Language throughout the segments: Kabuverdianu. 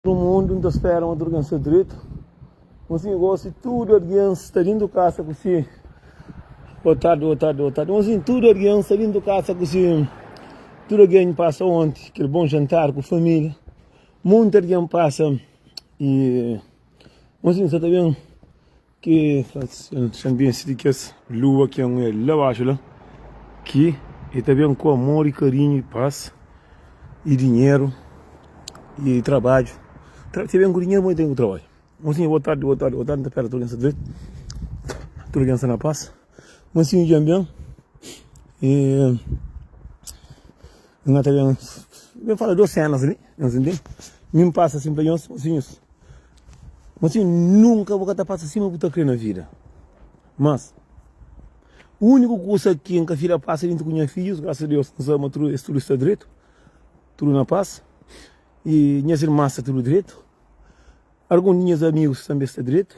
No mundu nta spera ma tudu ken sta dretu ma si gosi tudu argen sta dintu kasa ku si boa tardi boa tardi boa tardi ma si tudu argen sta dintu kasa ku si tudu argen pasa onti kel bon jantar ku familia munti argen pasa y ma si nsa ta ben Ki xanbiensi di kes lua ki un el la baxu la ki e ta ben ku amor y karinhu y pas y dinheru y trabadju ta ben ku dinheru mas e ta ben ku trabadju bon sinha boa tardi boa tardi boa tardi n ta pera tudu algen sta dretu tudu algen sta na pas. Mansinhu dja N ben y N ka ta ben ben fala dos senas li nhos intende mi N pasa asin pa nhos mosinhus mosinhu nunka bu ka ta pasa sima bu ta kre na vida mas uniku kusa ki N ka fila pasa dintu ku nha fidjus grasa a Deus N sabe ma es tudu sta dretu tudu na pas y nhas irmas sta tudu dretu algun di nhas amigus tanbe sta dretu.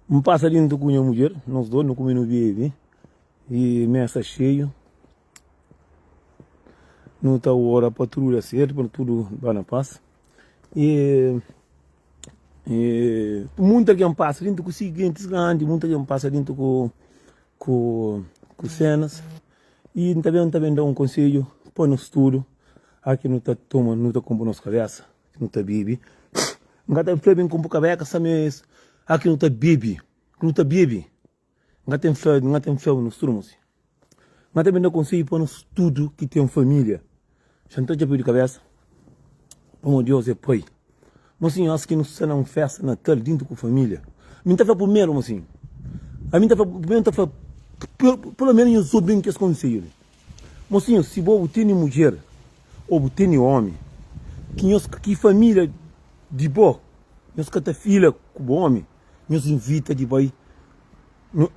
N pasa dintu ku nha mudjer, nos dos nu kume nu bebe y mesa sta xeiu. Nu ta ora pa tudu da sertu, pa tudu ba na pas. Y munti algen pasa dintu ku si gentis grandi, munti algen pasa dintu ku senas. Y N ta ben da un konsedju pa nos tudu, aki nu ta toma, nu ta kunpra nos kabesa. Não tá bibi. Nga tem flor bem com boca beca, sabe isso? Aqui não tá bibi. Não tá bibi. Nga tem flor, nga tem flor nos trumos. Nga tem ainda conselho para nós tudo que tem família. Já não tá de cabeça. Como Deus é pai. Mocinho, acho que não está na festa natal dentro com família. Mim tá primeiro, mocinho. A mim tá primeiro, tá pelo menos eu sou bem que esse conselho. Mosinhu, si bo bu tene mudjer ô bu tene ómi, ki nhos, ki família di bo, nhos ka ta fila ku bo ómi, nhos invita di bai.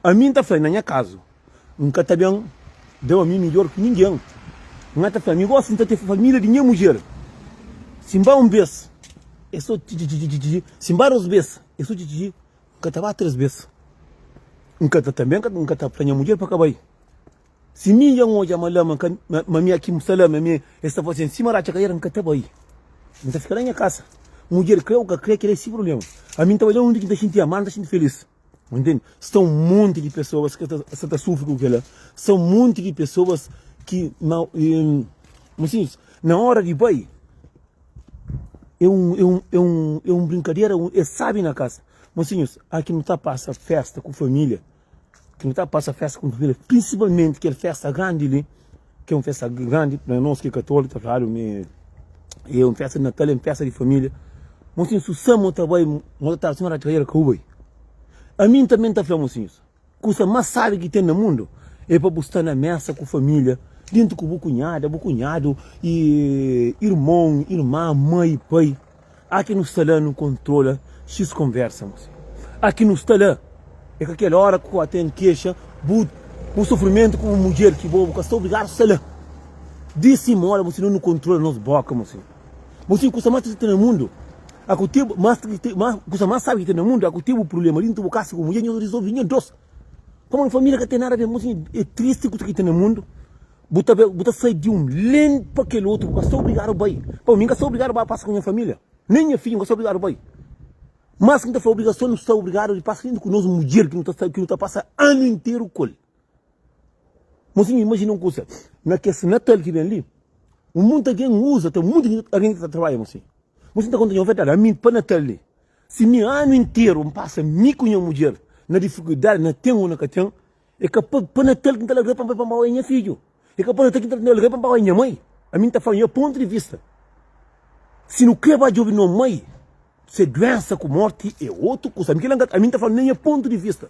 Ami N ta fla-l, na nha kazu, N ka ta ben da-u ami midjór ki ningen. N ata fla-l, mi gósi N ta ten família di nha mudjer, si N ba un bês, é sô txi-txi-txi-txi-txi, si N ba dôs bês, é sô txi-txi-txi, N ka ta ba três bês. N ka ta, tanbê N ka ta fla nha mudjer pa ka bai. Si mi dja N odja ma lama ka ma mi aki N sta la ma mi es ta faze-m sima ratxa kaera N ka ta bai N ta fika na nha kasa mudjer kre u ka kre kel-la é si problema ami N ta bai la undi ki N ta xinti amadu N ta xinti felis ntende sta un monti di pesoas ki sta ta sufri ku kel-la sta un monti di pesoas ki na kuma si diz na ora di bai é un é un é un é un brinkadera es sabi na kasa kuma si diz aki nu ta pasa festa ku familia. Ki nu ta pasa festa ku família, prinsipalmenti kel festa grandi li, ki é un festa grandi pa nos ki é katóliku, ta fladu mi é un festa di natal, é un festa di família. Mon sinhus, si samu ta bai, mon ta tradu, si mon ta tra-l, ka bu bai. Ami n tanbê n ta fla mon sinhus, kusa más sábi ki ten na mundu é pa bu sta na mésa ku família, djuntu ku bu kunhada, bu kunhadu, i irmon, irma, mai, pai. Há quem não está lá não controla X conversa moço Há quem não está lá É com aquela hora que até não queixa Bu bu sofrimento com bu mulher que bo bu ka sta obrigado está lá Diz sim moda moço não não controla nos boca moço Moço em custa mais triste na mundo Há que tem mais triste mais custa mais sabe que tem na mundo Há que tem bu problema dentro bu casa com mulher nhos resolve nhos dois Pamo na família ka tem nada a ver moço É triste custa que tem na mundo Bu ta bai, bu ta sai di un len pa kel otu, bu ka sta obrigadu bai. Pau, mi N ka sta obrigadu bai pasa ku nha família, nen nha fidju N ka sta obrigadu bai. Mas ki N ta fla, obrigason nu sta obrigadu di pasa inda ku nos mudjer ki nu ta sta, ki nu ta pasa anu interu ku el. Mon sinhor, imajina un kusa, na kes Natal ki ben li, un monti algen uza, ten monti algen ki ta trabadja, mon sinhor. Mon sinhor ta konta nha un verdadi, ami pa Natal li, si mi anu interu N pasa mi ku nha mudjer na difikuldadi, na ten o na ka ten, E ka pa, pa Natal ki N ta largá pa N bai pa Mbaoi, nha fidju. E ka pa Natal ki N ta largá pa Mbaoi, nha mai. Ami N ta fla, nha pontu di vista, si nu krê ba djobe no mai, se duénsa ku mórti é otu kusa. Ami kila N ka ta, ami N ta fla na nha pontu di vista.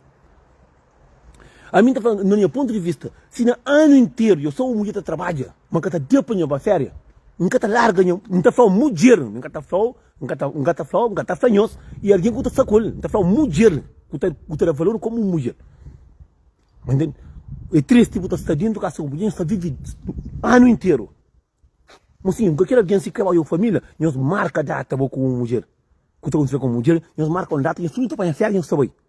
Ami N ta fla na nha pontu di vista, si na anu interu eu sou un mudjer ta trabadja, ma N ka ta da pa nha bai féria, N ka ta larga nha, N ta fla-u mudjer, N ka ta fla-u. N ka ta, N ka ta fla-u, N ka ta fla nhos, i algen ku ta sta ku el, N ta fla-u, mudjer ku ta, ku ta da valor komu un mudjer. Bo ntende? E tristi bu ta sta dentu kasa ku mudjer, nhos ta vive anu interu. Mo sin, bu ka kre algen si ka ba yo família, nhos marka data bo ku un mudjer ku ta konsidra komu mudjer, nhos marka un data, nhos tudu ta panha férias, nhos ta bai.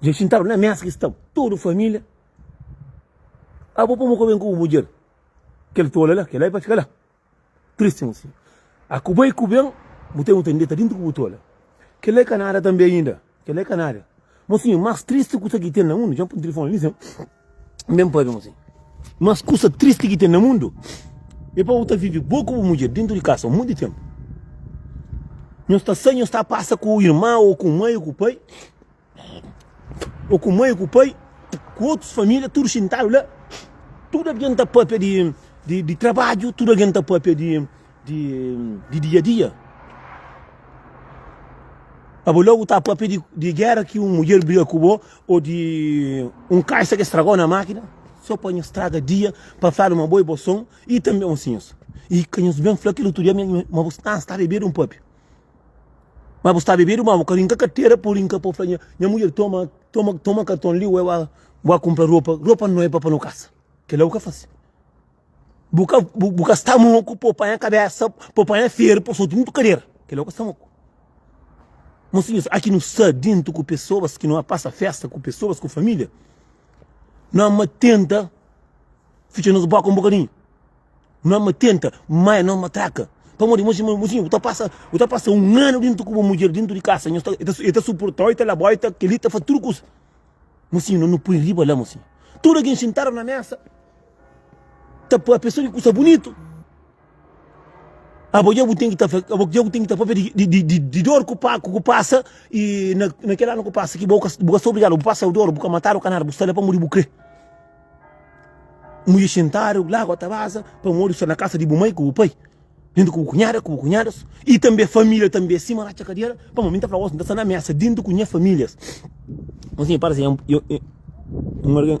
Dja xintadu na mesa ki staba tudu família. Abu pô-m ku ben ku bu mudjer. Kel tola la, kel-la é pa fika la tristi un siñu. A ku bai ku ben, bu ten bu ta deta déntu ku bu tola. Kel-la é ka nada tanbê inda. Kel-la é ka nada. Mosinhu, más tristi kusa ki ten na mundu, dja-m pô-m na tilifoni li sen. Mben pa Aviãozinho. Mas kusa tristi ki ten na mundu é pa bu ta vive bo ku bu mudjer dentu di kasa monti tenpu. Nhos ta sai, nhos ta pasa ku irma ô ku mai ô ku pai, ô ku mai ô ku pai, ku otus família, tudu xintadu la. Tudu algen ta pâpia di trabadju, tudu algen ta pâpia di. di dia-dia. Pa bu logu ta papia di gera ki un mudjer briga ku bo o di un kaxa ke stragau na makina so pa nhos straga dia pa fladu ma bo e bo son i tambi mosinhos i ka nhos ben fla kel utru dia ma bu sta sta bebedu un papia ma bu sta bebedu ma bu ka rinka katera pur inka po fla nha mudjer toma toma toma karton li ue ua kumpra ropa ropa no e pa panu kasa kela bu ka fasi. Bu ka, bu, bu ka sta moku pa panha kabésa, pa panha feru, pa soti mutu kadera. Kel la bu ka sta moku. Mosinhus, a ki nu sta déntu ku pesoas, ki nu a pasa fésta ku pesoas, ku família, nu ama tenta fitxa nos bóka un bokadinhu. Nu ama tenta maia nos matraka. Pamodi, imajina, mosinhu, bu ta pasa, bu ta pasa un anu déntu ku bu mudjer déntu di kasa, nhos ta, el ta, el ta suporta-u, el ta leba-u, el ta kel-li, el ta faze tudu kusa. Mosinhu, no, no poi riba la, mosinhu. Tudu algen xintadu na mésa. ta pa pesoa di kusa bunitu. Abo dja bu ten ki ta fla, abo dja bu ten ki ta papia di dor ku bu pasa i na kel anu ku pasa ki bo ka sta obrigadu, bu pasa dor, bu ka matadu, bu ka nada, bu sta la pamodi bu kre. Mudjer xintadu, lagua ta baza pamodi bu sta na kasa di bu mai ku bu pai, dintu ku bu kunhada, ku bu kunhadas i tambi familia tambi asin ma ratxa kadiera. Pamodi mi ta fla gosi, mi ta sta na mesa dintu ku nha familias. Nton si mi parse un algen.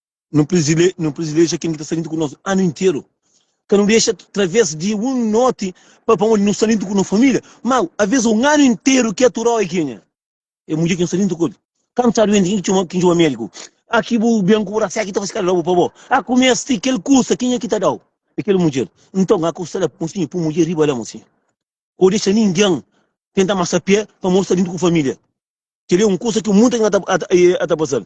Nu prizile, nu prizileja ken ki ta sta lintu ku nos anu interu. Ka nu dexa traves di un noti pa pamodi nu sta lintu ku no família. Mau, avês un anu interu ki aturau é kenha? É mudjer ki nu sta lintu ku el. Ka nu sta duenti, ken ki txoma, ken ki txoma médiku? A ki bu ben ku bu rasiá ki ta fase kada pa bo? A ku meste kel kusa, kenha ki ta dau? É kel mudjer. Nton, a kusta la, mosinhu, pui mudjer riba la, mosinhu. Ka bu dexa ningen tenta masa pé pamodi sta lintu ku família. Kel-li é un kusa ki munta algen a ta, a ta, a ta pasal.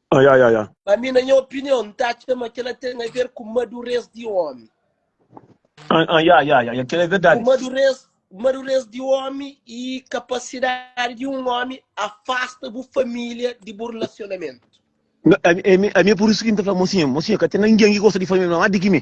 Ah, ya, ya, ya. Pa mi, na nha opinion, N ta atxa ma kel-la ten aver ku madurez di ómi. Ah, ah, ya, ya, ya, ya, kel-la é Ku verdadi. madurez, madurez di ómi y kapasidadi di un ómi afasta bu família di bu rilasionamentu. N- Ami, ami, ami é pur isu ki N ta fla, mosinha, mosinha, ka ten ningen ki gosta di família más di ki mi.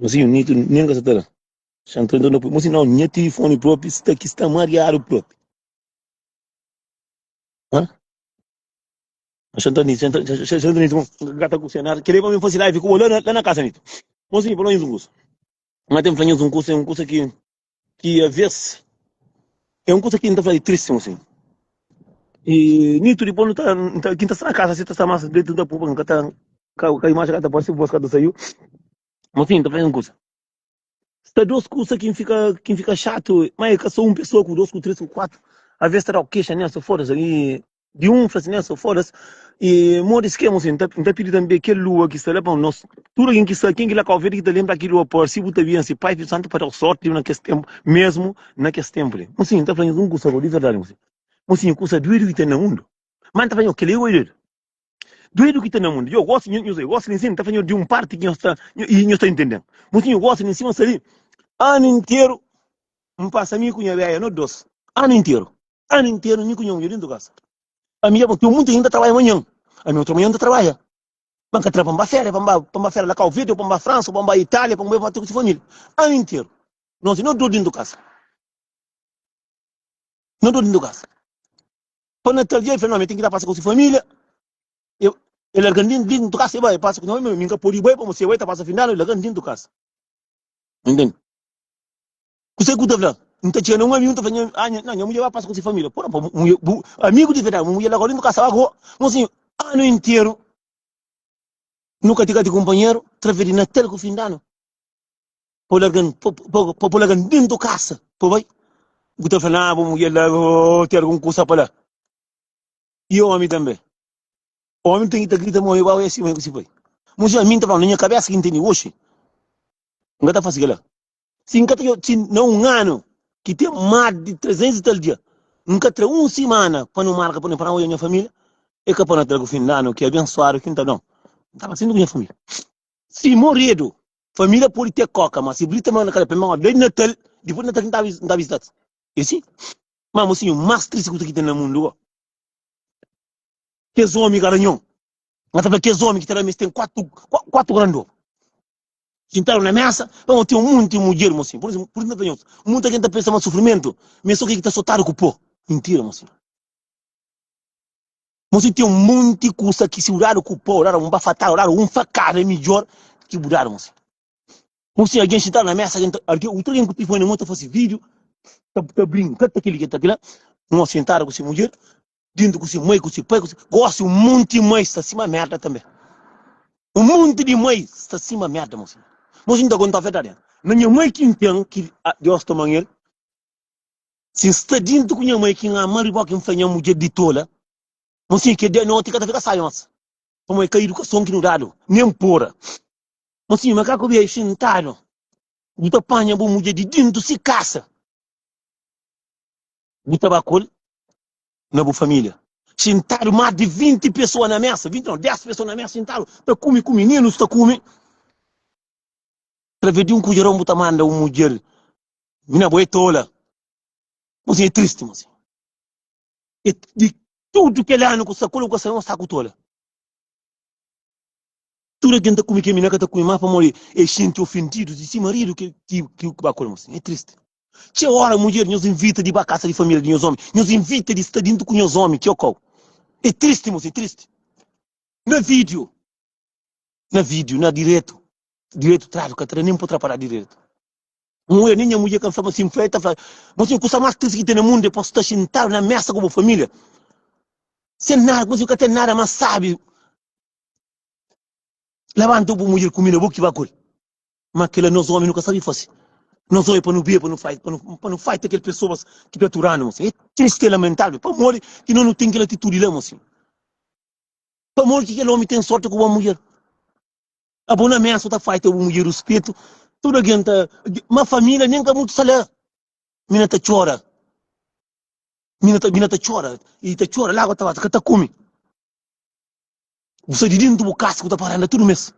Mas sim, Nito nem ka sa ta da. Xa nta nton da pui. Mas sim, não, nha telefone propi sta ki, sta mariadu propi. Hã? Mas xa nta Nito, xa nta, xa, xa, xa nta Nito, bom, gata ku se nada, kere pa mi fasi live ku bo la na, la na kasa Nito. Mas sim, pa nós nhos un kusa. Nha tem fla nhos un kusa, é un kusa ki. ki a vez é un kusa ki N ta fla é tristi gosi. I nitu dipos nu ta, N ta, ki N ta sta na kasa si ta sta más dretu, N ta purba, N ka ta, ka, ka imaji ka ta parse, vos ka ta saiu. Mas fin, N ta fla-s un kusa. Sta dos kusa ki N fika, ki N fika xatu, ma é ka sô un pesoa ku dos, ku tres, ku kuatu, a vez ta da-u kexa nel, sô foda-s. I Di un fla sin, Esa foda s, e modi es kema sin? N ta pidi tanbe kel lua ki sta la pa nos. Tudu algen ki sta, ken ki la ka obi el ki ta lenbra ki lua parse bu ta bia si Pai, Fidju, Santu pa da-u sorti na kes tenpu, mesmu na kes tenpu li. Mon sin, N ta fla nhos un kusa gau, di verdadi, mon sin, mon sin, kusa duedu ki ten na mundu, ma N ta fla nhos, kel-li é gau duedu, duedu ki ten na mundu. Djo, gosi, nho, nhos, gosi li nsin, N ta fla nhos di un parti ki nhos ta, i nhos ta intende-m. Mon sin, nho gosi li nsin, ma sta li anu interu. N pasa mi ku nha béia no dôs. Anu interu. Anu interu mi ku nha munhê dentu kasa. Ami dja bon. Teo munta inda trabadja manhan. Ami otu manhan ta trabadja. Ba N ka tra pa N ba féria, pa N ba pa N ba féria la Kau Verde, ou pa N ba Fransa, ou pa N ba Itália, pa N bai pati ku si família. Anu interu. Nôti no dôs dentu kasa. No dôs dentu kasa. Pa Natal dja el fla, no, ami ten ki ta pasa ku si família. E e larga-m dentu kasa e bai. E pasa ku nha bai, ma mi N ka pode bai, pamodi si e bai ta pasa fin di anu, el larga-m dentu kasa. N intende. Kuse ki bu ta fla? N ta txina un amigu, N ta fla, Ah, nha, nha mudjer ba pasa ku se família. Pô, bu mudjer, bu amigu di verdadi, bu mudjer la gora nu kasaba ku bo. Mon sinhor, anu interu nu ka tika ti kunpanheru, trave di Natal ku Findanu, pa bu larga-m, pa, pa, pa bu larga-m dentu kasa pa bu bai. Bu ta fla, Ah, bu mudjer la, ôô, ten algun kusa pa la. I ômi tanbe. Omi ten ki ta grita mo igual esi mai ku si pai. Muzi ami nta fala na nha kabesa ki nteni oxi nga ta fasi kila. Si nka ta yo si na un anu ki ten mas di 300 i tal dia nka tra un simana pa no marka pa no pa na oja nha familia e ka pa no tragu fin danu ki abensuadu ki nta don. Nta fala sin ku nha familia. Si moredu familia podi te koka ma si brita ma na kala pa mi ma dadi natal dipus natal ki nta nta visitati. Esi ma mosinhu mas tristi ku tudu ki ten na mundu go. Kes omi garanhon. N ta fla kes omi ki ta da-m es ten kuatu, kuatu grandor. Xintadu na mesa, pa mo ten un monti mudjer, mo sinhor. Por isu, por isu N ta fla nhos, monti algen ta pensa ma sufrimentu mi é so kel ki ta sotadu ku pó. Mintira, mo sinhor. Mo sinhor, ten un monti kusa ki si bu dadu ku pó, bu dadu un bafatada, bu dadu un fakada é midjór ki bu dadu, mo sinhor. Mo sinhor, algen xintadu na mesa, algen ta, algen, otu algen ku tilifoni na mon ta fase vídiu, ta, ta brinka ta kili, ta kila. Un omi xintadu ku se mudjer, dintu ku si mai ku si pai ku si gosi un monti mai sta sima merda tanbe un monti di mai sta sima merda mo sinhor mo si nta kontau verdadi na nha mai ki nten ki Deus ta manhel si nsta dintu ku nha mai ki nhaman riba ki nfla nha mudjer di tola mo sinhor ki dia noti ka ta fika saionsa pamodi ka idukason ki nu dadu nen pora mo sinhor ma ka ku bia xintadu bu ta panha bu mudjer di dintu si kasa. Bu ta ba ku el na bu família. Xintadu más di vinti pesoa na mésa, vinti nau, dés pesoa na mésa xintadu ta kume ku mininus ta kume. Través di un kudjeron bu ta manda un mudjer mina bo é tola. Bo sin é tristi ma sin. É di tudu kel anu ku sta ku el bu ka sabe ma sta ku tola. Tudu algen ta kume kel mina ka ta kume má pamodi el xinti ofendidu di si maridu ki ba ku el ma sin. É tristi. Txeu óra, mudjer nhos invita di ba kasa di família di nhos ómi. Nhos invita di sta dintu ku nhos ómi, ki okau. É tristi, mosi, tristi. Na vídiu, na vídiu, na diretu, diretu tradu ka ta da nen pa tra pa da diretu. Un ue, nen nha mudjer ka N flaba si N fla el ta fla, Mosi, kusa más tristi ki ten na mundu é pa bu sta xintadu na mésa ku bu família sen nada, koma si bu ka ten nada más sábi. Labanta-u pa bu mudjer kume na bo ki ba kuri. Ma kila nos omi nu ka sabi fasi. Nos oja pa nu bia pa nu fai, pa nu, pa nu fai ta kel pesoas ki ta aturanu, mosi. E tristi, e lamentável pamodi ki nos nu ten kel atitudi la, mosi. Pamodi ki kel omi ten sorti ku bo mudjer? Abo na mesa o ta fai ta bu mudjer ruspetu, tudu algen ta, ma família nen ka mutu sa la. Mi na ta txora, mi na ta, mi na ta txora, i ta txora lágua ta bata, ka ta kume. Bu sai di déntu bu kasa ku ta paranda tudu mes.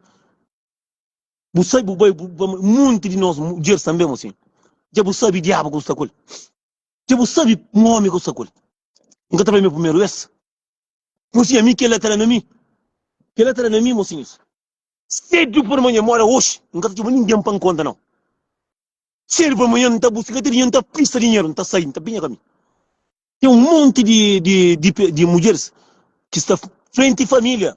Bu sai, bu bai, bu ba. Monti di nos mudjeris tanbê é mosin. Dja bu sabe diabu ku sta ku el? Dja bu sabe un omi ku sta ku el? N ka ta fla mi é primeru bes. Mosin, ami kel-la ta da na mi. Kel-la ta da na mi, mosinhus. Sédu pa manhan, mora oxi, N ka ta txoma ningen pa N konta nau. Sédu pa manhan, N ta buska kel dinheru, N ta prista dinheru, N ta sai, N ta binha ka mi. Ten un monti di di di di mudjeris ki sta frenti família.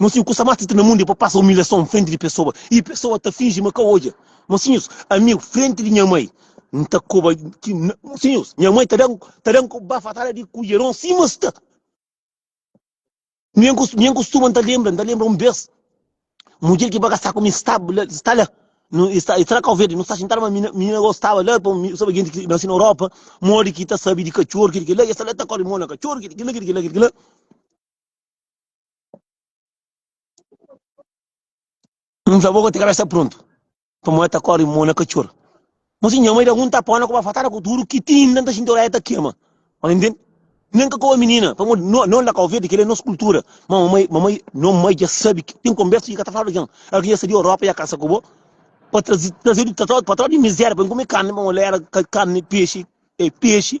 Mon sinhus, kusa más tristi na mundu é pa pasa umilhason frenti di pesoa i pesoa ta finji ma ka odja. Mon sinhus, amigu, frenti di nha mai N ta koba ki N. Mon sinhus, nha mai ta da-m ta da-m ku bafatada di kudjeron sima es ta. Nha nha kustuma N ta lenbra N ta lenbra un bês mudjer ki ba ka sta ku mi sta la sta la nu i sta i sta na Kauverdi nu sta xintadu ma minina minina gosi staba la pa mi saba genti ki nasi na Europa modi ki ta sabe di katxor kil ki la i es ta la i ta kori mo na katxor kil ki la kil ki la kil ki la. N fla bo ka ti ka sta prontu. Pamodi el ta kori mo na katxor. Mas si nha mai da-m un tapa na koba fatada ku tudu ki tin, nta N ta xinti oréia ta kema. Ora intende? Nen ka koba minina, pamodi no, no la Kau Verdi, kel-li é nos kultura. Ma mamai, mamai, no mai dja sabe ki ten konbersa ki ka ta fla algen. Éra ki dja sta di Europa dja kasa ku bo, pa traze, trazedu ta, pa tra di mizéria pa N kume karni, pamodi la éra karni, pexi, pexi.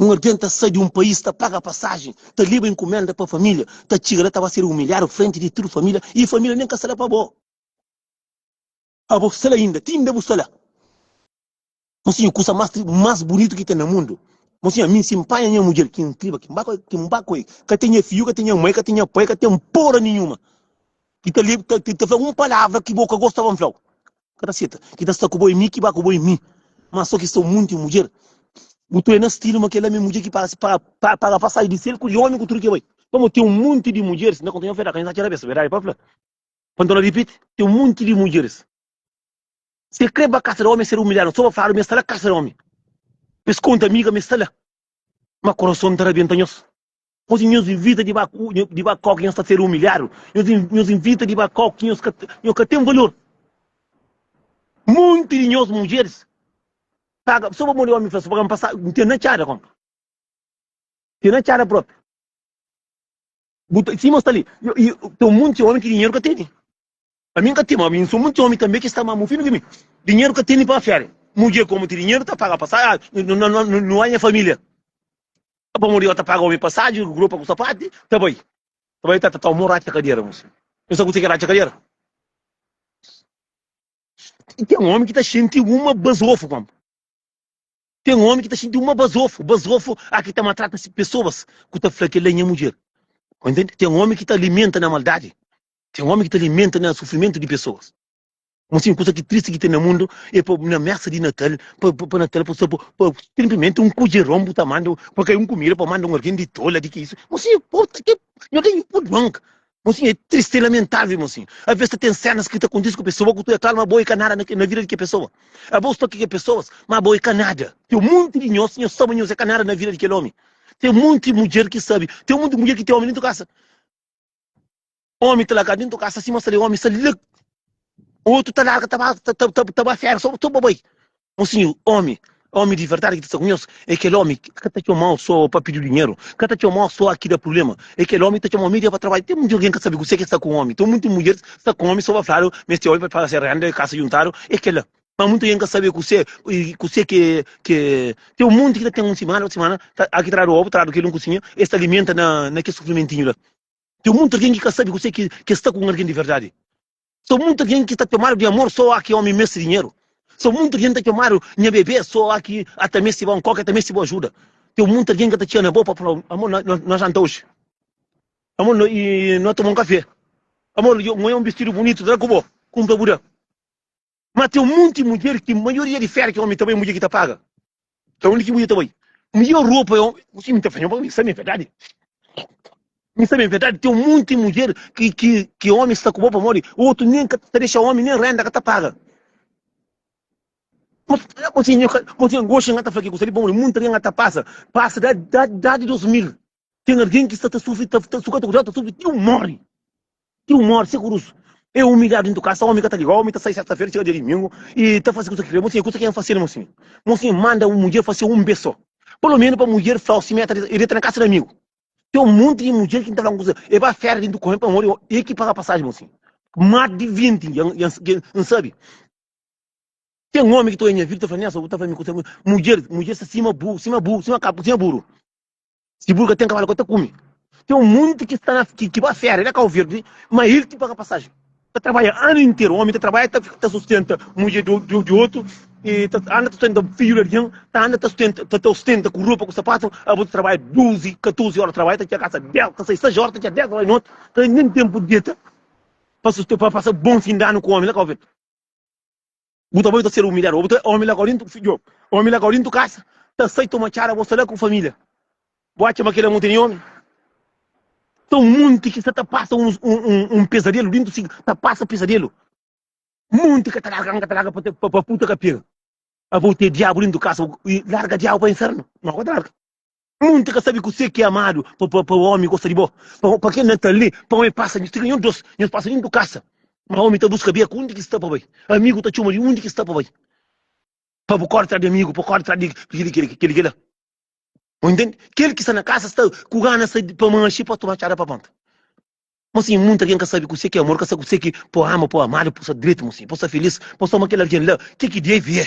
Un algen ta sai di un país, ta paga pasajen, ta leba inkumenda pa família, ta txiga la ta ba ser umilhadu frenti di tudu família i família nen ka sta la pa bo. Abo sta la inda, ti inda bu sta la. Mon sinhor, kusa más tri, más bunitu ki ten na mundu. Mon sinhor, ami si N panha nha mudjer ki N triba, ki N ba ku el, ki N ba ku el, ka ten nha fidju, ka ten nha mai, ka ten nha pai, ka ten pora ninhuma ki ta leba, ki ta fla-m un palavra ki bo ka gostaba N fla-u. Ka ta seta. Ki ta sta ku bo e mi ki ba ku bo e mi. Ma so ki sta un monti e un mudjer. Bu tue na stilu ma kela mi mudjer ki parse pa paga pasaji di sel ku di omi ku tudu ke bai. Pamo ten un monti di mudjeris, na konta nha fedaka nha sa txera besa, berdadi pa fla. Pa nton na ripiti, ten un monti di mudjeris. Si e kre ba kasa di omi e ser umilhadu, so ba fladu mi e sta la kasa di omi. Pa es konta amiga mi e sta la. Ma kurason ta rabenta nhos. Gosi nhos invita di ba ku di ba kau ki nhos ta sedu umilhadu, nhos nhos invita di ba kau ki nhos ka nhos ka ten valor. Monti di nhos mudjeris paga so pamodi omi fla so, paga-m pasa N ten na txada konka, N ten na txada propi. Bu ta sima sta li, i ten monti omi ki dinheru ka tene. Ami N ka ten, ma ami N so monti omi tanbe ki sta ma mu finu di mi. Dinheru ka tene pa fiadu. Mudjer ku omi ti dinheru ta paga pasaju, no aña familia. Ka pamodi yo ta paga omi pasaju, ropa ku sapati, ta bai. Ta bai ta ta ta omo ratxa kadera mu si. Nu sa kuse ki é ratxa kadera? Ten omi ki ta xinti uma bazofu pam. Ten omi ki ta xinti uma bazofu, bazofu a ki ta matrata si pesoas ku ta fla kel la nha mudjer. Ten omi ki ta alimenta na maldadi. Ten omi ki ta alimenta na sufrimentu di pesoas. Mo sin, kusa ki tristi ki ten na mundu e pa na mesa di Natal, pa pa Natal pa sta bo, pa sinplimenti un kujeron bu ta manda pa kai un kumida pa manda un algin di tola di ki isu. Mo sin, e po ta ke nho ten ipu duan ka. Mo sin, e tristi, e lamentável mo sin. Aves ta ten senas ki ta kontisi ku pesoa ku tu e kal ma bo e ka nada na na vida di ke pesoa. Abos sta ki ke pesoas ma bo e ka nada. Ten monti di nhos, nhos sabe ma nhos e ka nada na vida di kel omi. Ten monti mudjer ki sabe, ten monti mudjer ki ten omi dentu kasa. Omi ta largadu dentu kasa sima sali, omi sali lag. Otu ta larga ta ba ta ta ta ba fera so ba bai. Mo sinhor, omi, omi di verdadi ki ta sta ku nhos e kel omi ki ka ta txomau so pa pidiu dinheru, ka ta txomau so a ki da prublema. E kel omi ta txomau mi dia pa trabadju. Ten munti algen ka sabe kuse ki sta ku omi. Ten munti mudjer sta ku omi so ba fladu ma es ten omi pa pagase renda e kasa djuntadu e kela. ma muita gente ka sabe kusé kusé ke ke te um monte ki ta tem um semana otu semana ta aki tradu ovu tradu keli um kusinha es ta alimenta na na ke sufrimentinho la tem muita algem ki ka sabe kusé ke ke sta ku um algem di verdade so muita algem ki ta tomadu di amor so aki omi mesti dinheru so muita algem ta tomadu nha bebé so aki a ta mesti bom koke a ta mesti bo ajuda tem muita algem ka ta txia na bo pa fala amor na na na janta oji amor na e na toma um kafé amor yo nho um bistidu bunito tra ku bo kumpra bu da. Má ten un monti mudjer ki maioria di féria ki ómi ta bai é mudjer ki ta paga. Nton, undi ki mudjer ta bai? Midjór ropa é ómi. N sibi, N ta fla, mi sabe é verdadi. Mi sabe é verdadi. Ten un monti mudjer ki ki ki ómi sta ku bo pamodi otu nen ka ta dexa ómi, nen rénda ka ta paga. Má fala ku si nhu, ku si nhu. Oxi N ka ta fla ki kusa li pamodi monti riba N ka ta pasa, pasa da da idadi di dôs mil. Ten algen ki sta ta sufri, ta ta suka ta kudjadu, ta sufri ti un mori. Ti un mori, se kurusu. E umilhadu dintu kasa, omi ka ta liga, omi ta sai serta-fera, txiga dia dumingu i ta fasi kusa ki krê. Monsinhor, kusa ki N fasi li, monsinhor? Monsinhor manda un mudjer fasi un bes sô, palomenu pa mudjer fla-u simé ta deta, e deta na kasa di amigu. Ten un monti di mudjer ki N ta fla-u un kusa, e ba fera dintu kome pamodi o, e ki paga pasaji, monsinhor. Más di vinti ya ya N, ya N sabi. Ten omi ki ta oja nha vida, ta fla, Nélson, bu ta fla mi kusa, mudjer, mudjer sta sima bu, sima bu, sima ka, sima buru. Si buru ka ten kabalu ka ta kume. Ten un monti ki sta na ki ba férias na Cabo Verde, ma el ki paga pasajen. Ta trabadja anu interu, omi ta trabadja ta ta sustenta mudjer di otu, e ta anda ta sustenta fidju di algin, ta anda ta sustenta ta ta sustenta ku ropa ku sapatu, abo ta trabadja duzi, katuzi óra trabadja ta txia kasa dés, ta sai sais óra ta txia dés óra di noti, ka ten nen tenpu di deta pa susten pa pasa bon fin di anu ku omi na Cabo Verde. Bu ta bai ta ser umilhadu. Bo ta omi la ka orintu fidjo. Omi la ka orintu kasa. Ta sai toma txada bo sta la ku familia. Bo atxa ma kila mute ni omi? Ta un monti ki sta ta pasa un un un pesadelu dintu si ta pasa pesadelu. Monti ka ta larga N ka ta larga pa pa pa puta ka pega. Abo te diabu dintu kasa i larga diabu pa infernu. No ka ta larga. Monti ka sabi kusé ki é amadu, pa pa pa omi gosta di bo, pa pa kel na ta lé, pa omi pasa nhos tiga nhos dos, nhos pasa dintu kasa. Ma omi ta buska bia ku undi ki sta pa bai, amigu ta txoma di undi ki sta pa bai. Pa bu kore tras di amigu, pa kore tras di kel kel kel kel la. Bo intende? Kel ki sta na kasa sta ku gana sa pa manxe pa toma txada pa panta. Mo sin monti algen ka sabi kusé ki é amor, ka sabi kusé ki pa ama, pa amadu, pa sta dretu, mo sin, pa sta filís, pa sta ama kel algen la, ke ki dive é.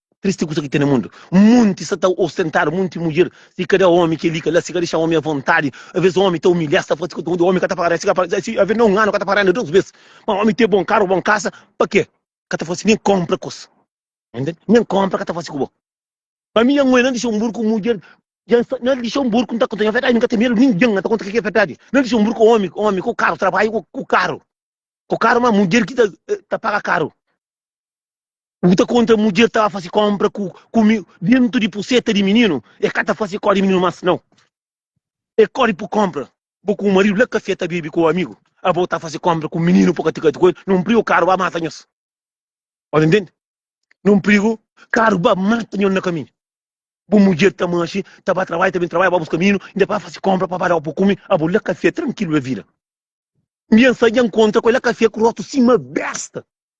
Tristi kusa ki ten na mundu. Monti sta ta ostentadu, monti mudjer si ka da omi keli ka la, si ka dexa omi avontadi. Aves omi ta umilha-s, ta fla si ka, omi ka ta pagada, si ka pagada, si aves na un anu ka ta pagada dos bes. Ma omi ten bon karu, bon kasa, pa ke ka ta fasi nen konpra kos? Entende? Nen konpra ka ta fasi ku bo. Ma mi Yanguê, na dexa un bur ku mudjer, dja sta, na dexa un bur ku N ta konta nha verdadi, mi ka ten medu ningen, N ta konta ke ki é verdadi. Na dexa un bur ku omi, omi ku karu, trabadju ku karu, ku karu, ma mudjer ki ta, ta paga karu. O ki ta konta mudjer ta ba fase konpra ku ku mi dentu di puseta di mininu e ka ta fase kó di mininu mas nau. E kori pu konpra. Bo ku bo maridu la kafé ta bebe ku bo amigu, abo ta fase konpra ku mininu po ka ti kati ku el, non prigu karu ba mata nhos. O ta ntende? Non prigu karu ba mata nhos na kaminhu. Bu mudjer ta manxi, ta ba trabadja, ta ben trabadja, ba buska mininu, inda pa fase konpra pa ba dau pu kumi, abo la kafé trankilu la vida. Mbian sa dja nkontra ku el la kafé ku rotu sima besta.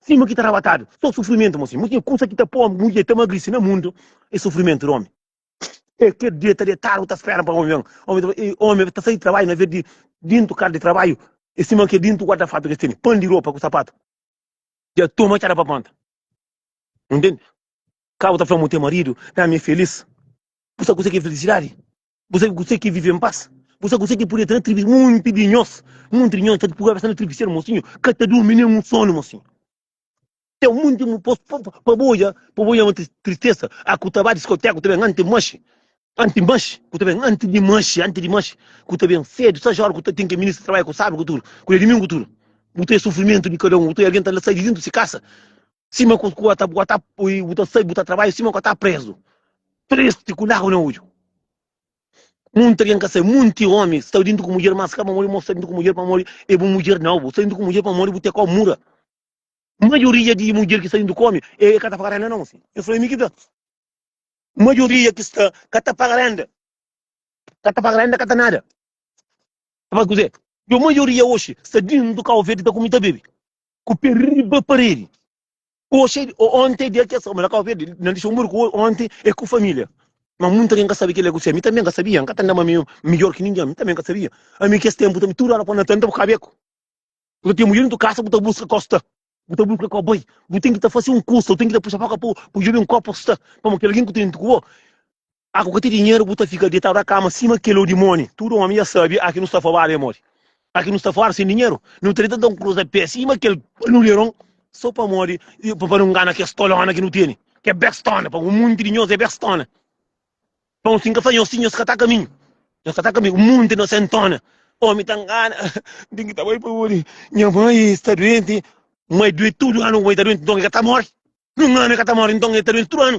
Sim mo ki ta rabatadu, so sufrimentu mo sim mo tinha kusa ki ta po mulher ta magrisi na mundu e sufrimentu di omi e ker dia ta detadu ta spera pa omi ben omi ta e omi ta sai di trabaiu na vez di dintu kasa di trabaiu e sima ke dintu guarda fartu ke teni pan di ropa ku sapatu dia toma txada pa panta ntende ka bu ta fla mo ten maridu dami e felis bu sa kusa ki e felisidadi. Bu sabe kuzê ki é vive npas? Bu sabe kuzê ki é pode tra-nu tribisera? Monti di nhos, monti di nhos, nta purba kabesa na tribisera, mosinhu, ka ta durmi nen un sonu, mosinhu. Ten monti di nhos, pa bu odja, pa bu odja un tristesa, a ku ta ba diskoteka, ku ta ben antis manxe, antis manxe, ku ta ben antis di manxe, antis di manxe, ku ta ben sédu, sa óras ku ta ten ki ministra trabadja ku sábadu, ku tudu, ku dia di dumingu, ku tudu. Bu ta odja sufrimentu di kada un, bu ta odja algen ta sai di déntu di se kasa, Sima ku ku ata bu ata ui bu ta sai bu ta trabadju sima ku ata prezu. Tristi ku lagu na odju. Munti algen ka sai, munti omi sta dintu ku mudjer mas ka pamodi mo sta dintu ku mudjer pamodi e bu mudjer nau. Bu sta dintu ku mudjer pamodi bu te kau mura. Majoria di mudjer ki sta dintu ku omi e ka ta paga renda nau si. Nhos fla mi ki ta. Majoria ki sta ka ta paga renda. Ka ta paga renda ka ta nada. Sabas kuze? Yo majoria oxi sta dintu kau verde ta kumi ta bebe. ku pé riba paredi. Oxi, onti é dia ki es ta. Má ka obi, na dixi un muru ku onti é ku família. Má munti algen ka sabe kel-li, gosi ami tanbê N ka sabia, N ka ta nda-m ami midjór ki ningen, ami tanbê N ka sabia. Ami kes ténpu tanbê tudu óra kantu N ta bu ka beku, bu ta ten mudjer dentru kasa, bu ta buska ka bu sta, bu ta buska ka bu bai, bu ten ki ta fase un kusa, bu ten ki ta puxa pa ka pa djobe-m ka bu sta, pamodi kel algen ku ta intru ku bo, Aku ka ti dinheru bu ta fika detadu a kama sima keli o dimoni tudu omi ya sabi aki nu sta fo babi amor aki nu sta fora sin dinheru nu treta da un cruz a pé sima kel nuleron so pa modi pa nu ngana kes tolona ki nu teni ke bestona pa un munti di nhos e bestona pa un sin ka fla nhos si nhos ka ta kaminhu nhos ka ta kaminhu un munti na sentona omi ta ngana din ki ta bai pa odi nha mai sta duenti mai duet tudu anu mai ta duenti nton e ka ta mori nu ngana e ka ta mori nton e ta duenti tudu anu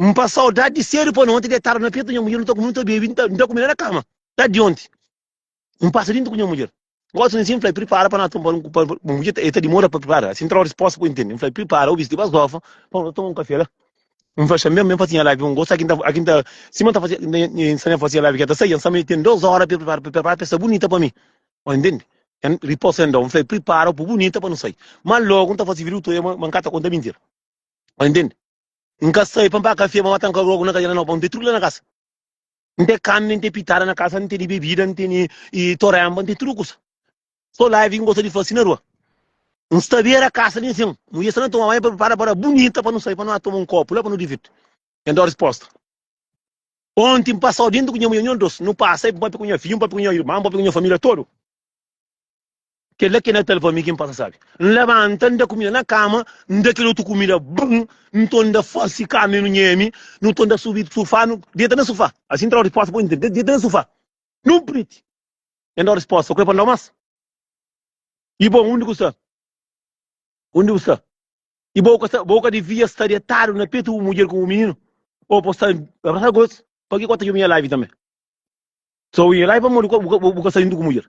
N pa saudade di cedo pa noti detado na peto nha mulher n ta comi n ta bebe n ta comida na cama ta di onti n passa dinto cu nha mulher gosi nsin fla prepara pa na toma un pa nha mulher e ta dimora pa prepara asin trau resposta pa intende n fla prepara o vesti basgofa pa no ta toma un café la n fla xambe ben fasi nha live un gosi aki ta aki ta sima ta fasi nha sami fasi nha live kia ta sai nha sami ten dos hora pe prepara pe prepara pe sta bunita pa mi o intende en riposa en dou n fla prepara o po bunita pa no sai ma logo n ta fasi video toia ma ma n ka ta conta mentira o intende N ka sai pa N pa kafé, ma mata N ka rogu na kazia na Naupau. N tê tudu la na kasa. N tê kami, N tê pitada na kasa, N tê di bebida, N tê ni i toremba, N tê tudu kusa. So live ki N gosta di fasi na rua. N sta bera kasa li nsin. Mudjer sta na toma banhu, pa pripara para bunita pa nu sai, pa nu na toma un kopu la, pa nu divirti. N da-u resposta. Onti N pasau dintu ku nha mudjer, nhos dos. Nu pasa, e N papia ku nha fidju, N papia ku nha irman, N papia ku nha familia todu. Kel-la ki N da-l pa mi, ki N pasa sabe. N labanta, N da kumida na kama, N da kel otu kumida bon, nton N da fase kama i nu nheme, nton N da subi sufá, nu deta na sufá. Asin N ta da-u respósta, poi N ta deta na sufá, nu priti. N da-u respósta, o krê pa N da-u más? I bo, undi bu sta? Undi bu sta? I bo ka sta, bo ka devia sta detadu na petu bu mudjer ku bu mininu? Bo pode sta abrasadu ku es, pabia ki bo ta djobe nha laivi tanbe? Sô bu nha laivi pamodi bu ka sta djuntu ku bu mudjer.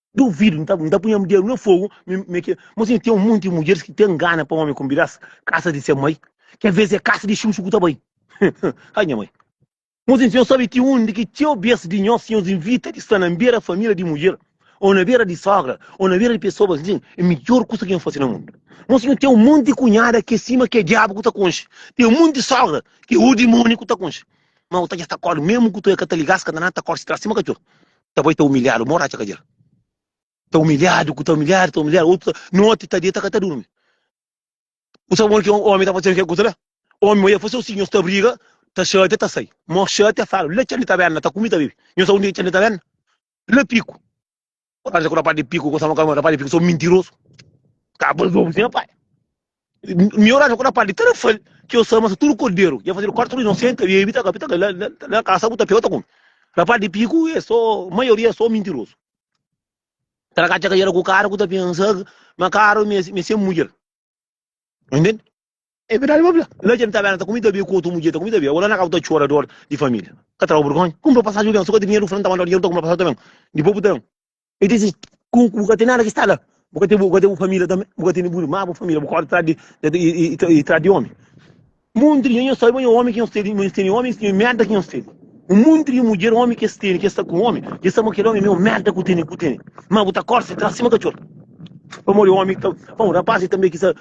Duvido, N ta, N ta punha mi dedu na fogu, mi, mi ke. Mo si ten un monti di mudjeris ki ta ngana pa omi konbida-s kasa di se mai, ki avês é kasa di xuxu ku ta bai. Ha, nha mai. Mo si nhos sabe ti undi ki txeu bês di nhos tinha nos invita di sta na bera família di mudjer, ô na bera di sógra, ô na bera di pesoas nsin, é midjór kusa ki N fase na mundu. Mo si nhos ten un monti di kunhada ki é sima ki é diabu ku ta konxe, ten un monti di sógra ki é otu dimóni ku ta konxe, ma bu ta dja sta kórdi, mésmu ku tu é ka ta liga-s, ka ta nada, ta kórdi si tras sima katxor. ta bai ta umilhadu mô ratxa kadjera ta umilhadu ku ta umilhadu ta umilhadu otu noti ta deta ka ta durmi u sabe modi ki omi ta fasi kel kusa la omi ma ya fasi osi nhos ta briga ta xatia ta sai mô xatia fala la txandi ta bena ta kumi ta bibi nhos sabe undi ki txandi ta bena la piku u acha ku rapaz di piku gostaba ka ma rapaz di piku so mintirozu ka ba zobu si nha pai Mi orason ku na padi ta na fal ki yo sama sa tudu korderu. Ya fazedu kuatu runion senta e bita ka bita ka na, na, na kasa ku ta pega ta kumi. Na padi piku e so maioria é so mintirosu. Tra ka tcheka yera ku kara ku ta pensa ki ma kara mi mi sem mudjer. Entende? É verdade babla. Na djem ta bela ta kumi ta be ku otu mudjer ta kumi ta be. Agora na ka ta chora dor di família. Ka trau burgonha. Kumpra passagem ben, so ka ti dinheru fran ta mandau dinheru ta kumpra passagem ta ben. Depois bu ta ben. E diz assim, ku bu ka ten nada ki sta la, bu ka ten bu ka ten bu família tanbe, bu ka ten bu irma, bu família, bu korda tras di e e tras di omi. Monti di nhonhos sabe nhonhos omi ki nhos tene, nhos tene omi, nhos tene merda ki nhos tene. Un monti di mudjer omi ki es tene, ki es sta ku omi, ki es sta ma kel omi é maior merda ku tene, ku tene. Ma bu ta korse tras sima katxor. Pamodi omi ta, bon, rapaz tanbe ki sa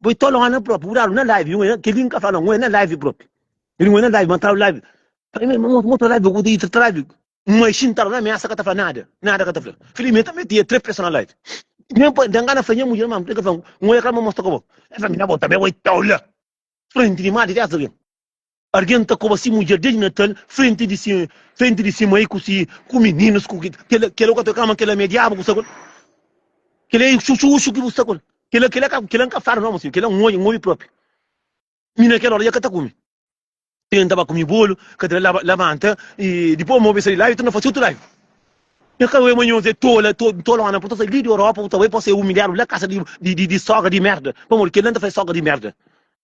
Bo i tolo Ana propi, bu dadu na live, un é, kel-li N ka fla-u, un é na live propi. Kel-li un é na live, ma N tadu live. Fla-m, ma un otu live, bu ta iri trata live. Un maixin tadu na miasa, ka ta fla nada, nada ka ta fla. Fla-i, ma e ta mete e três peson na live. Nen pa, ta ngana fla nha mudjer, ma, el ka fla-m, un é kel-la ma mostra ka bo. El fla-m, na bo tanbe bo i tolo. Frenti di mari di Azaria. Argen ta koba si mudjer desdi Natal frenti di si frenti di si mai ku si ku mininus ku ki kela kela ku ta kama kela me diabu ku sta ku el kela e xuxu uxu ki bu sta ku el kela kela ka kela ka fala nome si kela n obi n obi propi mi na kela ora ja ka ta kumi kila n ta ba kumi bolu ka ta laba labanta i dipos n obi sa di laiu torna fasi utru laiu e ka obi manhos e tola to tolona pur ta sai li di Europa ku ta bai pa se umiliadu la kasa di di di sogra di merda pamodi kela n ta fasi sogra di merda.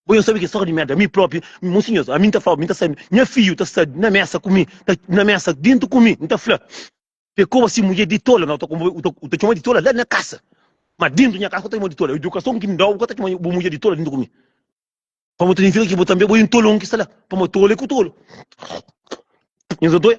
Bo nhos sabe ki sóka di merda mi propi Mon sinhos ami nta fla-bo mi nta sabe nha fidju ta sta na mesa ku mi ta na mesa dintu ku mi nta fla Pe koba si mudjer di tola na u ta konvoka u ta txoma di tola la na kasa ma dintu nha kasa ka ta txoma di tola idukason ki nda-u bu ka ta txoma bu mudjer di tola dintu ku mi pamo ta identifika ki bo tanbe bo é un tolon ki sta la pamo tolu é ku tolu nhos dois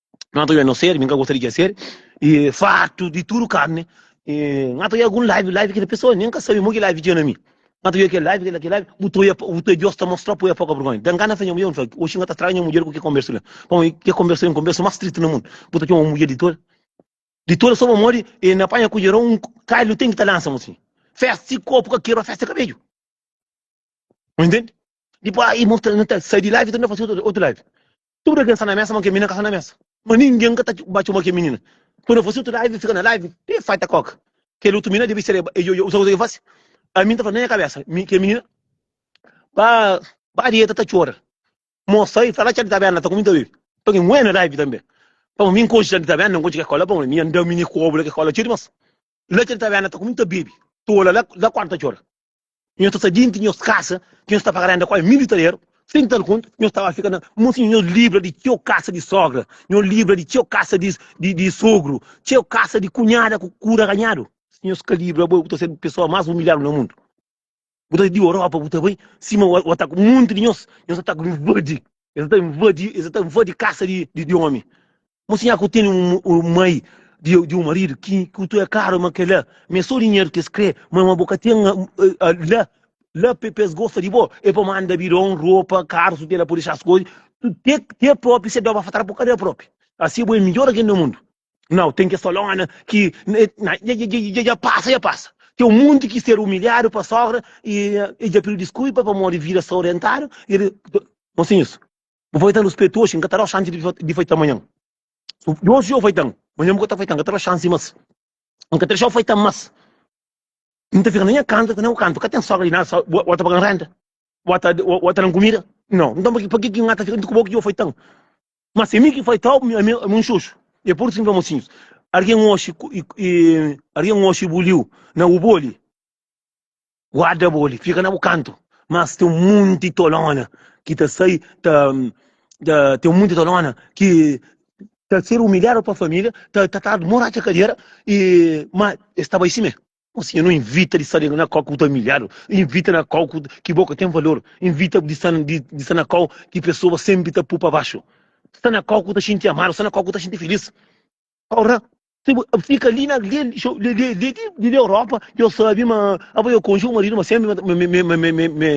N ta oiê no ser, mi ka gosta di kes ser e fartu di tudu karni. E N ta oiê algun live, live ki pesoa nen ka sabe mo ki live dja na mi. N ta oiê kel live, kel live, bu ta oiê, bu ta oiê Deus ta mostra pa bu oiê poka bergonha. Da N gana fla nha mudjer, N fla, oxi N ka ta straga nha mudjer ku kel konbersu la. Pamodi kel konbersu la é un konbersu más stritu na mundu. Bu ta txoma un mudjer di tola, di tola so pamodi e na panha kudjeron, un kailu ten ki ta lansa-m asin. Festa si korpu ka kebra, festa é kabedju. Não entende? Tipo, aí mostra no tel, sai de live, tenta fazer outro, outro live. Tudo que está na mesa, mas que menina está na mesa. Mas ninguém que tá bate uma que menina. Quando você outro live, fica na live, tem fight coca. Que outro menina deve ser, eu, eu, eu, eu, eu faço. A mim tá falando na minha cabeça, que menina, ba, ba dieta tá chora. Moça aí, fala que tá bem, tá comigo também. Tô que muena live também. Pão, mim coxa tá bem, não coxa que cola, pão, mim andou mini cobra que cola, tira mas. Lá que tá bem, tá comigo também. Tô lá, lá quarta chora. Nhos ta sai denti nhos kasa, ki nhos ta paga renda ku ai mil italeru, sen tal konta, nhos ta ba fika na Monsinhor. Nhos libra di txeu kasa di sogra, nhos libra di txeu kasa di sogru, txeu kasa di kunhada ku kura ganhadu. Si nhos ka libra bo, bu ta sedu pesoa mas umilhadu na mundu. Bu ta sai di Europa, bu ta bai sima o ataku. Monti di nhos, nhos ataku invadi. Es ata invadi, es ata invadi kasa di omi. Mo si nha ku teni un un mai di di un marido ki ku tu é claro ma kela ma é so dinheiro ki es kre ma ma bo ka ten la la pe pes gosta di bo e pa manda bidon ropa carro su tela po dexar as coisa tu te te propio se doba fatal po kada propio asi bo é midjor algen na mundo nao ten kes falona ki na dja dja dja dja passa dja passa ten um monte ki ser humilhado pa sogra e e dja pidiu desculpa pamodi vida so orientado e mosinhos Bu fai tan respetu oxi, nka ta dau xansi di fai tan manhan. Si oxi jau fai tan, manhan bu ka ta fai tan, nka ta dau xansi mas. Nka ta dexau fai tan mas. Nta fika na nha kantu, na bu kantu ka ten sogra di nada, so bo ta pagan renta, bo ta bo ta dan kumida. Nau, nton paki paki ki nka ta fika juntu ku bo ki jau fai tan? Ma si é mi ki fai tau, ami ami ami un xoxu. É pur isu ki N fla mosinhus, argen oxi ku i i argen oxi buliu na ubo li. Guarda bo li, fika na bu kantu. Mas ten un monti tolona ki ta sai, ta, ta, ten un monti tolona ki ta ser umilhadu pa família, ta tratadu mo ratxa kadera, i, ma es ta bai si mê. Ó Sinhor, nu invita di sta li na kau ki bu ta umilhadu, invita na kau ki bo ka ten valor, invita di sta, di, di sta na kau ki pesoas senpri ta pô pa baxu, sta na kau ku ta xinti amadu, sta na kau ku ta xinti filís. Ora, se bu fika ali na lê de Europa, eu sabe ma aba eu conju marido, ma sempre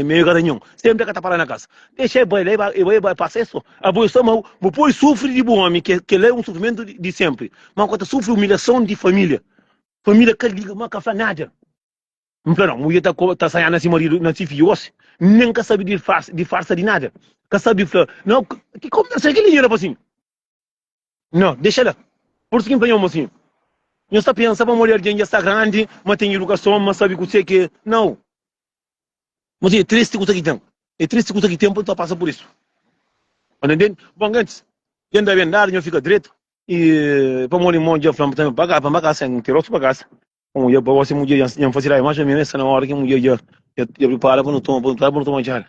me garanhão, sempre ka ta para na casa. Deixa e bai lá, e bai passa e só. Aba eu sa mau, bu poi sufre de bu homem, que que lá é um sofrimento de sempre. Mau ka ta sufre humilhação de família. Família ka liga, ma ka fla nada. N fla, não, mulher ta ta saia na si marido, na si filho hoje, nem ka sabe de farsa de nada. Ka sabe fla, não, que conversa é aquele ali, rapazinho? Nhô, dexa la. Pursigindo pa nho, mosinhu. Nho sta pensa pa modi algen dja sta grandi, ma ten idukason, ma sabi kusé ki é nau. Mosinhu, é tristi kusa ki ten. É tristi kusa ki ten pa nu ta pasa pur isu. Anda ntende? Bon, gentis, dja N da ben dadu, nho fika dretu i pamodi mo dja fla-m tanbe pa ka ba sen ti rostu pa kasa. Bon, dja pa gosi mudjer dja N fasil ai. Más o menus é sta na ora ki mudjer dja pripara pa nu toma, pa nu toma txá la.